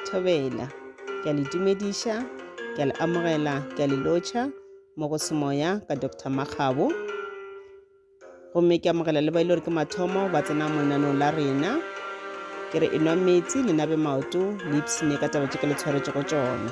Thobela. Ke a le dumediša, ke a le amogela, ke a le lotšha mo go semoya ka Dr. Makgabo. Gomme ke amogela le ba ile gore ke mathomo ba tsena mo lenanong la rena. Ke re enwa metsi le nabe maoto le ipsine ka taba tše ke le tshwaretšego tšona.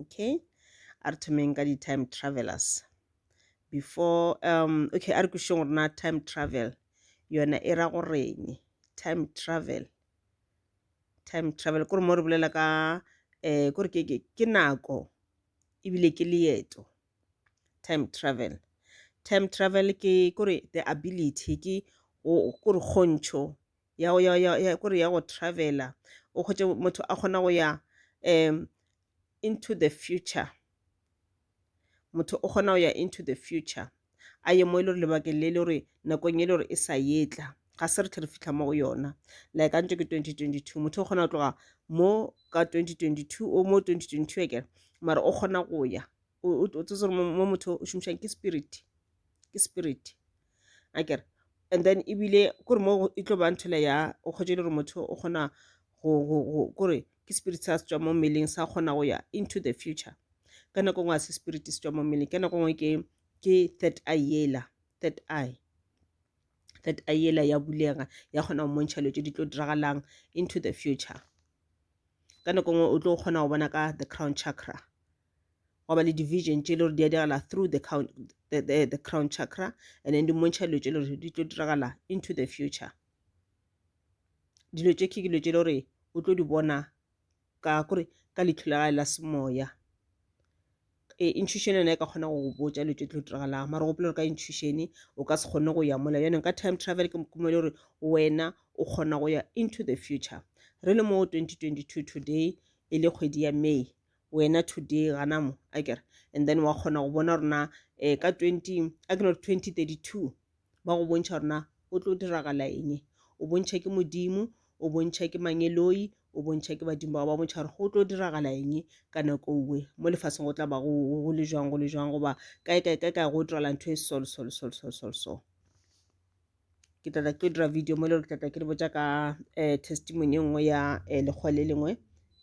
okay a re thomeng ka di-time travelers before um okay a re kwešišeng gore na time travel yona e ra goreng time travel time travel kore mo re bolela ka um kore ke, ke, ke nako ebile ke leeto time travel time travel ke kore the ability ke kore kgontšho ya go ya ya ya kore ya go travela o kgotše motho a kgona go ya um into the future motho o kgona go ya into the future a ye mo e le gore lebakeng le le gore nakong e le gore e sa yetla ga se re tle re fitlha mo go yona like a ntse ke 2022 motho o kgona go tloga mo ka 2022 o mo 2022 e kere mara o kgona go ya o tsetse gore mo motho o šomišang ke spirit ke spirit a kere and then ebile kore mo e tlo bang thela ya o kgwetše le gore motho o kgona kore ke spirit sa se tswa mo mmeleng sa kgona go ya into the future ka nako ngwe a se spirit se tswa mo mmeleng ka nako ngwe ke ke third eye yela third eye third eye yela ya bulega ya kgona go montšha letse di tlo diragalang into the future ka nako ngwe o tlo kgona go bona ka the crown chakra gwa ba le division tše le gore di a diragala through the, count, the, the, the crown chakra and then di mmontšha dilo tše le gore di tlo diragala into the future dilo tše ke dilo tše le gore o tlo di bona ka kore ka letlho la gae la semoya e, intuition yona e ka kgona go botsa dilo tše tlo diragalang mara gopela gore ka intuition o ka se kgone go ya mola yone ka time travel ke mokumele gore wena o kgona go ya into the future re le mo 2022 today e le kgwedi ya may wena today gana mo a kere and then wa kgona go bona rona um eh, ka 20 a ke no 2032 ba go bontšha rona o tlo diragala eng o bontšha ke modimo o bontšha ke mangeloi o bontšha ke badimo ba ba bontšha gore go tlo diragala eng ka nako uwe mo lefaseng go tla ba go le jwang go le jwang goba kae kae kae kae go dirala ntho e sol sol sol sol sol sol ke tlatla ke dira video mo e le gore tlatla ke le botsa ka um testimony e nngwe ya um lekgowa le lengwe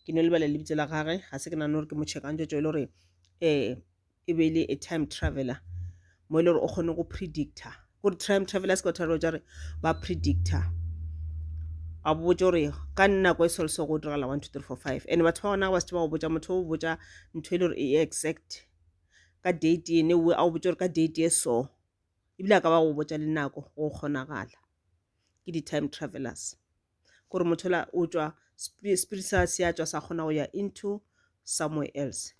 ke no lebala lebitso la gage ga se ke nagane gore ke mo checkang tsotso e le gore um e be e le a time traveler mo e le gore o kgone go predictor gore time traveler se ka tharo tsa re ba predictor a botse gore ka nako e selo se go diragala one two three four five and batho ba gona ba se ba go botsa motho o botsa ntho e le gore e exact ka date ene o botse gore ka date e so ebile a ka ba go botša le nako go kgonagala ke di-time travelers gore motho la o tšwa spirit sa se a tšwa sa kgona go ya into somewhere else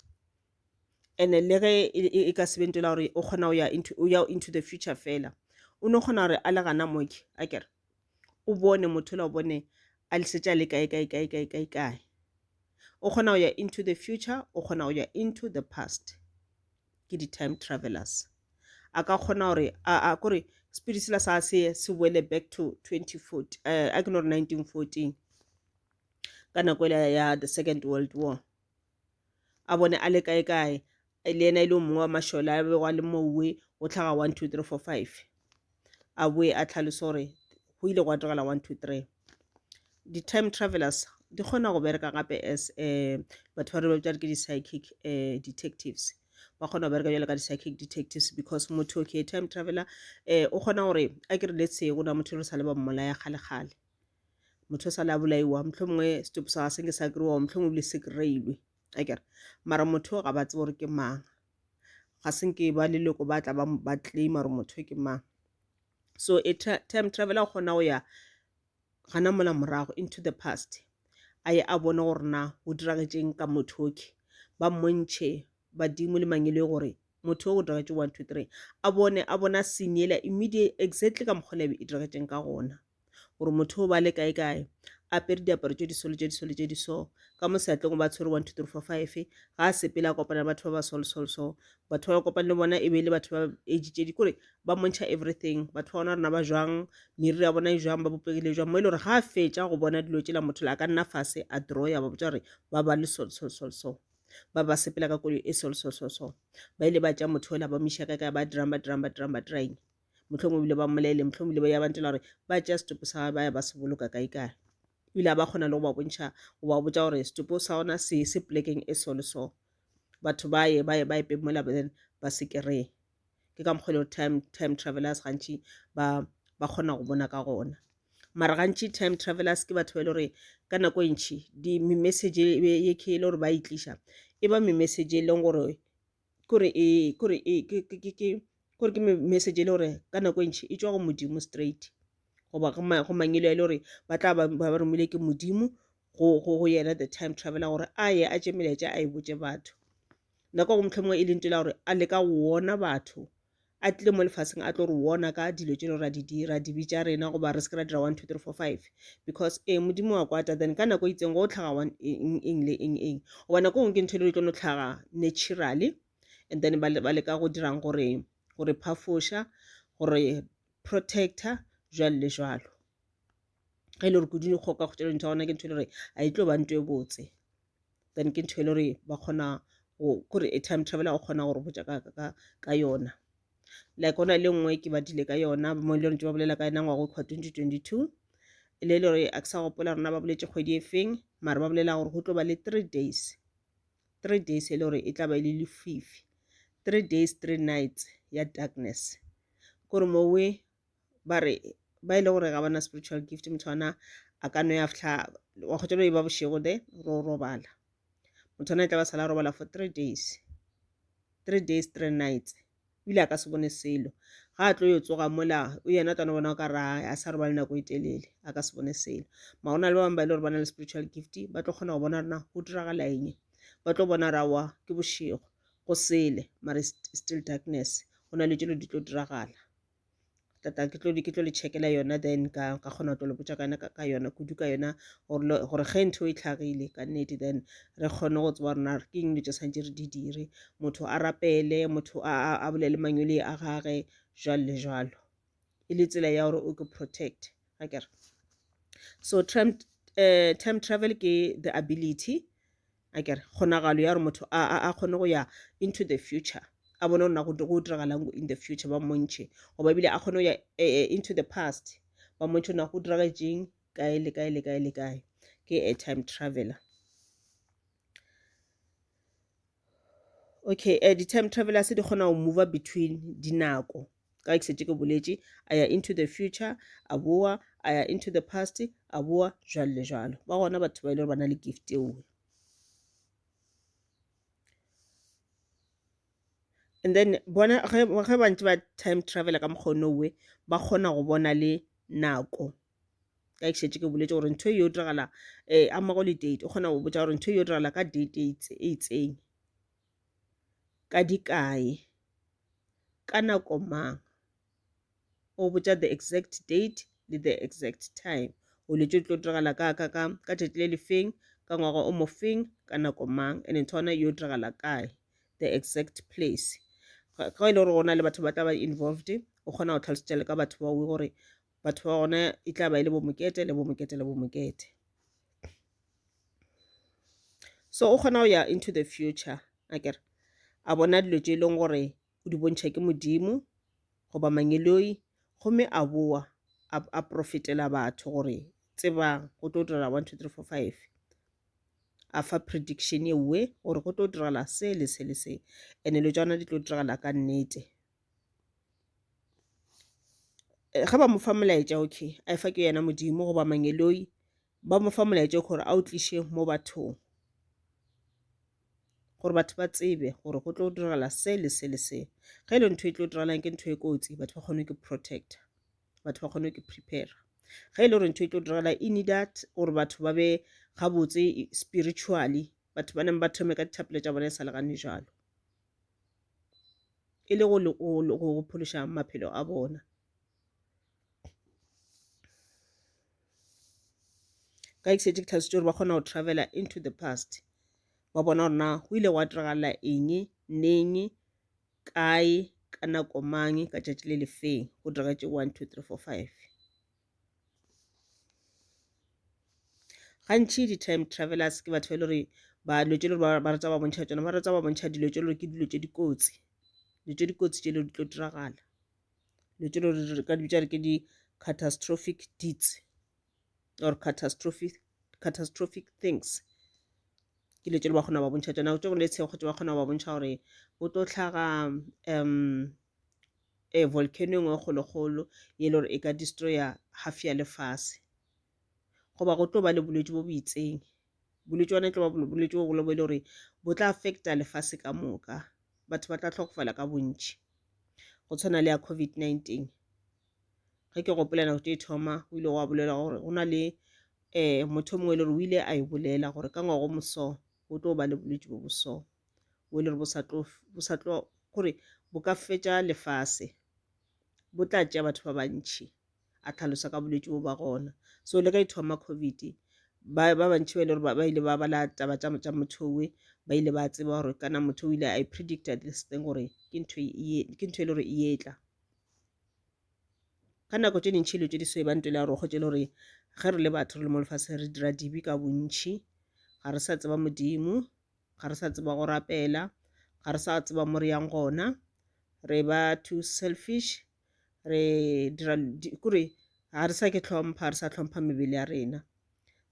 and le ge e, e, e ka sebentela gore o kgona go ya into, o ya into the future fela o no kgona gore a le gana moke a kere o bone motho la o bone a lisetša le kae kae kae kae kae kae o kgona go ya into the future o kgona go ya into the past ke di-time travelers a ka kgona gore a kore spirit sela sa se se boele back to 2014 eh, a ke no re 1914 ka nako ela ya the second world war a bone a le kae kae le yena e le o mongwe wa mašole a bego a le mowe go tlhaga 1 2 3 4 5 a boe a tlhalosa gore go ile gwa diragala 1 2 3 di-time travelers di kgona go bereka gape as um batho ba re ba bitšare ke di-psychic um detectives ba kgona go bereka jalo ka di-psychic detectives because motho okay time traveler um o kgona gore a ke re let's say go na motho re sa le ba mmolaya kgalekgale motho o sa le a bolaiwa mohlho mongwe setopo sa ga senge sa kry-wa mohlho mongwe bile se kry-ilwe a kere mara motho ga ba tsebe gore ke mang ga se nke ba leloko ba tla ba claim gore motho ke mang so e time travel a kgona go ya gana mola morago into the past a ye a bone gore na o diragetseng ka motho oke ba mmontšhe badimo le mangelo gore motho o diragetse one two three a bone a bona senyela immediate exactly ka mokgwa lebe e diragetseng ka gona gore motho o ba le kae kae apere diaparo tše diso le tše diso le tše diso ka mo seatleng o ba tshwere one two three four five ga a sepele a kopana le batho ba ba sol sol so batho ba kopane le bona e be e le batho ba age tše di kore ba montšha everything batho ba bona rena ba jwang meriri ya bona e jwang ba bopegile jwang mo e le gore ga a fetša go bona dilo tšela motho le a ka nna fase a draw ya ba botša gore ba ba le sol sol sol so ba ba sepela ka kolo e sol sol sol so ba ile ba tša motho ola ba miša ka ka ba dirang ba dirang ba dirang ba dirang mohlomong ebile ba mmolaele mohlomong ebile ba ya bantela gore ba tšea setopo sa ba ya ba se boloka kae kae ebile a ba kgona le go ba bontšha go ba botša gore setopo sa gona se se polekeng e so le so batho ba ye ba ye ba epe mola then ba se kry-e ke ka mokgwa e le gore time time travelers gantši ba ba kgona go bona ka gona mara gantši time travelers ke batho ba e le gore ka nako e ntšhi di-message ye ke e le gore ba e tliša e ba message e leng gore kore ee kore ee ke ke ke ke kore ke message e le gore ka nako e ntši e tšwa go Modimo straight goba go go mangelo a e le gore ba tla ba ba romilwe ke Modimo go go go yena the time traveler gore a ye a tše melaetša a e botše batho nako go mohlomongwe e lentšu la gore a leka go wona batho a tlile mo lefaseng a tlo re wona ka dilo tše ra di dira dibe tša rena goba re se ke ra dira one two three four five because ee modimo wa kwata then ka nako e itseng go tlhaga one eng eng le eng eng goba nako e nngwe ke ntho e le di tlo no tlhaga naturally and then ba leka go dirang gore gore phafoša gore protector jwalo le jwalo ge e le gore kudu dikgoka go tšela dintho ya gona ke ntho e le gore a e tlo ba ntho e botse then ke ntho e le gore ba kgona kore a time traveler o kgona gore botša ka yona like ona le nngwe ke badile ka yona mo e le gore ba bolela ka yona ngwago kgwa 2022 e le gore a ke sa gopola rona ba boletse kgwedi e feng mare ba bolela gore go tlo ba le three days three days e le gore e tla ba e le lefifi three days three nights ya darkness kore mowe ba re ba e le gore ga ba na spiritual gift motho ona a ka no ya fihla wa kgotsa lo e ba bošego de ro robala motho ona e tla ba sala robala for three days three days three nights o ile a ka se bone selo ga a tlo yo tsoga mola o yena tana bona o ka ra a sa robale nako e telele a ka se bone selo ma go na le ba bangwe ba e le gore ba na le spiritual gift ba tlo kgona go bona rena go diragala eng ba tlo bona rawa ke bošego go sele mare still darkness go na le tšelo di tlo diragala tata ke tlo ke tlo le checkela yona then ka ka kgona go lo botsa ka yona ka yona kudu ka yona gore ge ntho e tlhagile ka nnete then re kgone go tseba rona ke eng dilo tse santse re di dire motho a rapele motho a bolele mangwele a gage jalo le jalo e le tsela ya gore o ke protect ga kere so time, uh, time travel ke the ability a kere kgonagalo ya gore motho a, a, a kgone go ya into the future a bone gore na go go diragalang in the future ba mmontšhe goba ebile a kgone go ya eh, eh, into the past ba mmontšhe na go diragetseng kae le kae le kae le kae ke a time traveler okay uh, di-time travelers di kgona go move between dinako ka ke setse ke boletše a ya into the future a boa a ya into the past a boa jalo le jalo ba gona batho ba e le gore ba na le gift eo and then bona ge ba ntse ba time travel ka mokgone owe ba kgona go bona le nako ka ke šetše ke boletse gore ntho e yo diragala um eh, amago le date o kgona go botsa gore ntho e yo diragala ka date e, e itseng ka di kae ka nako mang o botša the exact date le the exact time go le tlo diragala ka ka ka ka tšatši le le feng ka ngwaga o mo feng ka nako mang and ntho yona yo diragala kae the exact place ga e le gore go na le batho ba tla ba involved o kgona go tlhalosetša le ka batho ba gore batho ba gona e tla ba e le bomokete le bomokete le bomokete so o kgona go ya into the future a kere a bona dilo tše e leng gore o di bontšha ke modimo goba mangeloi gomme a boa a profetela batho gore tsebang go tlo direla one two three four five a fa prediction ewe gore go tlo direla se le se le se and-e lo tswana di tlo direla ka nnete ge ba mo fa molaetša okay a e fa ke yena modimo goba mangeloi ba mo fa molaetša o gore a o tliše mo bathong gore batho ba tsebe gore go tlo diragala se le se le se ge e le ntho e tlo diragalang ke ntho e kotsi batho ba kgone ke protector batho ba kgone ke prepare ge e le gore ntho e tlo diragala e need that gore batho ba be gabotse spiritually batho ba neng ba thome ka dithapelo tša bona e sa legane jalo e le go phološa maphelo a bona ka ikšetše ke thabisitše gore ba kgona go travela into the past ba bona gore na go ile gwa diragalela eng neng kae ka nako mang ka tšatši le lefeng go diragetse one two three four five gantši di-time travelers ke batho ba e le gore ba dilo tše le gore ba rata ba bontšha tsona ba rata ba bontšha dilo tše le gore ke dilo tše dikotsi dilo tše dikotsi tše le di tlo diragala dilo tše le gore ka dibitša re ke di-catastrophic deeds or catastrophic catastrophic things ke dilo tše le ba kgona ba bontšha tsona tše go le tshekgo tše ba kgona ba bontšha gore go tlo tlhaga um ee, volcano engwe e kgolokgolo ye le gore e ka destroyer half ya lefase goba go tlo ba le bolwetši bo bo itseng bolwetši bona e tlo ba bolwetši bogolo bo e le gore bo tla affecta lefase ka moka batho ba tla tlhokofala ka bontši go tshwana le ya COVID-19 ge ke gopola nako tše thoma o ile wa bolela gore go na le um motho mongwe e le gore o ile a e bolela gore ka ngwago moso go tlo ba le bolwetši bo boso bo le re bo sa tlo bo sa tlo gore bo ka fetša lefase bo tla tšea batho ba bantšhi a tlhalosa ka bolwetši bo ba gona so le ka ithoma covid ba ba bantšhi ba ile gore ba ile ba bala taba tša tša motho we ba ile ba tseba gore kana motho o ile i predicta this thing gore ke ntho e ke ntho e le gore e etla ka nako tše dintšhi dilo tše di so e ba ntole ya gore kgotse le gore ge re le batho re le mo lefatsheng re dira dibe ka bontšhi ga re sa tseba modimo ga re sa tseba go rapela ga re sa tseba mo re yang gona re ba too selfish re dira kore ga re sa ke tlhompha re sa tlhompha mebele ya rena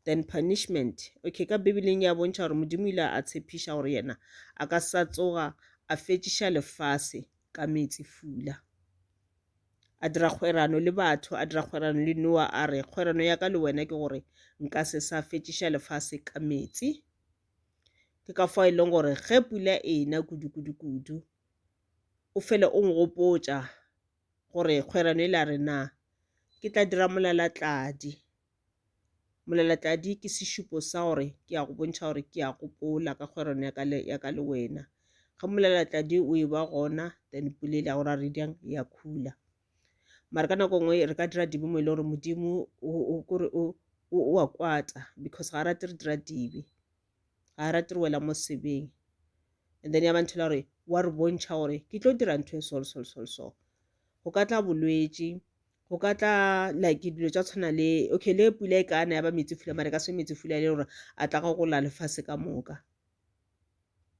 then punishment okay ka bibeleng ya bontšha gore modimo ile a tshepiša gore yena a ka sa tsoga a fetšiša lefase ka metsi fula a dira kgwerano le batho a dira kgwerano le noa a re kgwerano ya ka le wena ke gore nka se sa fetšiša lefase ka metsi ke ka fao e leng gore ge pula ena kudu-kudu-kudu o fele o ngopotša gore kgwerano e la re na ke tla dira molalatladi molalatladi ke sešupo sa gore ke ya go bontšha gore ke ya gopola ka kgwerano ya ka le wena ge molalatladi o e ba gona then pula e le ya go ra re diyang ya khula mara ka nako nngwe re ka dira dibe mo e le gore modimo kore o a kwata because ga a rate re dira dibe ga a rate re wela mo sebeng and then ya ba nthela gore wa re bontšha gore ke tlo dira ntho e sol sol sol so go ka tla bolwetši go ka tla like dilo tša tshwana le okay le pula e kana ya ba metsi fula mare ka se metsi fula e le gore a tla go gola lefase ka moka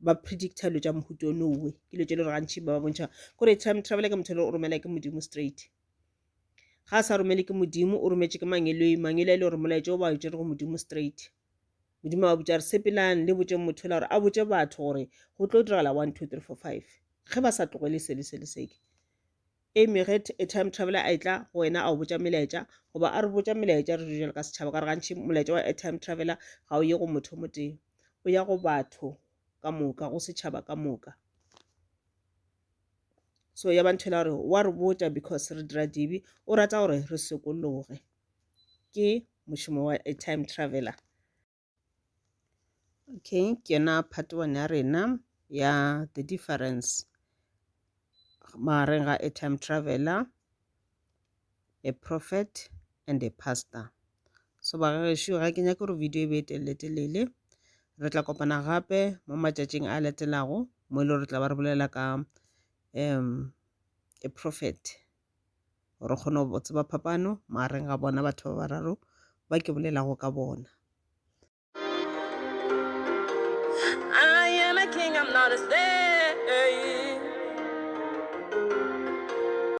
ba predicta dilo tša mohuto o nowe ke dilo tše le gore gantši ba ba bontšha gore time travel ke motho le o romela ke modimo straight ga a sa romele ke modimo o rometše ke mangeloi mangeloi e le gore molaetša o ba o tšere go modimo straight modimo a botša re sepelang le botšeng motho la gore a botše batho gore go tlo diragala one two three four five ge ba sa tlogele sele sele seke Amy, Get a time traveler a etla go wena a o botša melaetša, goba a re botša melaetša re dule ka setšhaba, ka re gantši molaetša wa a time traveler ga o ye go motho mo tee, o ya go batho ka moka, go setšhaba ka moka. So ya ba ntho ela gore wa re botša because re dira dibe, o rata gore re sokologe. Ke mošomo wa a time traveler. Okay, ke yona part one ya rena ya the difference magareng ga a time traveler, a prophet and a pastor. So ba gešo ga ke nyake gore video e be e telele-telele. Re tla kopana gape mo matšatšing a latelago mo e le gore re tla ba re bolela ka um a prophet. gore o kgone go tseba phapano magareng ga bona batho ba bararo ba ke bolelago ka bona I am a king, I'm not a slave.